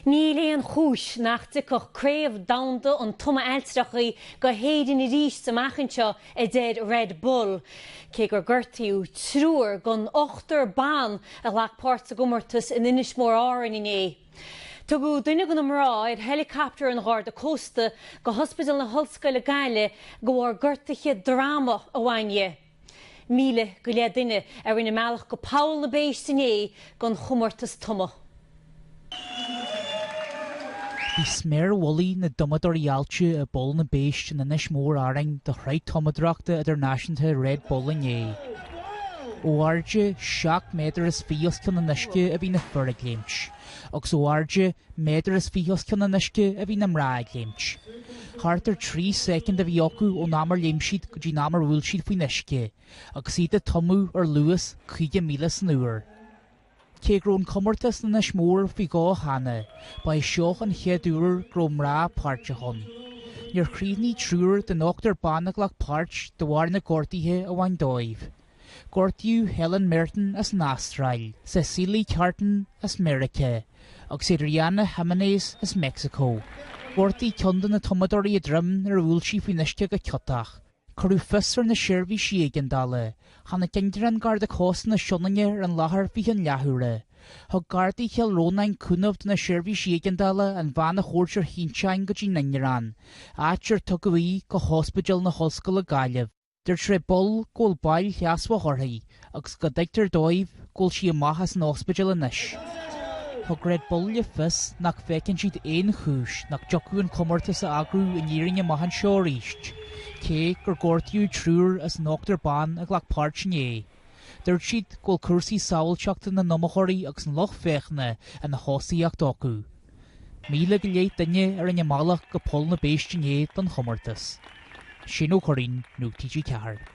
Níl aon chúis nach dtiocfadh Craobh Domhanda an Tumadh Ailltreachaí go hÉirinn arís amach anseo, a deir Red Bull. Cé gur gortaíodh triúr den ochtar ban a ghlac páirt sa gcomórtas in Inis Mór Árainn inné, tugadh duine de na mná ar héileacaptar an Gharda Cósta go hOspidéal na hOllscoile Gaillimh de bharr gortuithe droma a bhain di. Míle go leith duine a rinne a mbealach go Poll na bPéist inné don chomórtas tumadh. Bhí sméar mhullaigh na dtumadóirí aillte i bPoll na bPéist in Inis Mór Árainn do Shraith Tumadóireachta Idirnáisiúnta Red Bull inné. Ó airde seacht méadar is fiche os cionn an uisce a bhí na fir ag léimt. Agus ó airde méadar is fiche os cionn an uisce a bhí na mná ag léimt. Thart ar trí soicind a bhí acu ón am ar léim siad go dtí an am ar bhuail siad faoin uisce, agus iad ag tumadh ar luas caoga míle san uair. Cé go raibh an comórtas in Inis Mór faoi dhó cheana, ba é seo an chéad uair go raibh mná páirteach ann. Níor chríochnaigh triúr den ochtar ban a ghlac páirt de bharr na gortuithe a bhain dóibh. Gortaíodh Helen Merten as an Astráil, Cesilie Carlton as Meiriceá agus Adriana Jiménez as Meicsiceo. Ghortaigh ceann de na tumadóirí a droim nuair a bhuail sí faoin uisce go ciotach. Cuireadh fios ar na seirbhísí éigeandála. Tháinig ingearán Garda Cósta na Sionainne ar an láthair faoi cheann leathuaire. Thug Gardaí Chill Rónáin cúnamh do na seirbhísí éigeandála an bhean a thabhairt ar shínteán go dtí an ingearán, áit ar tugadh í go hOspidéal na hOllscoile Gaillimh. Dúirt Red Bull go bhfuil bail sheasmhach uirthi agus go dtuigtear dóibh go bhfuil sí amach as an ospidéal anois. Thug Red Bull le fios nach bhfeiceann siad aon chúis nach dtiocfadh an comórtas a eagrú in Éirinn amach anseo arís, cé gur gortaíodh triúr as an ochtar ban a ghlac páirt inné. Dúirt siad go bhfuil cúrsaí sábháilteachta na n-iomaitheoirí agus an lucht féachana ina thosaíocht acu. Míle go leith duine a rinne a mbealach go Poll na bPéist inné don chomórtas. Shane Ó Curraighín, Nuacht TG4.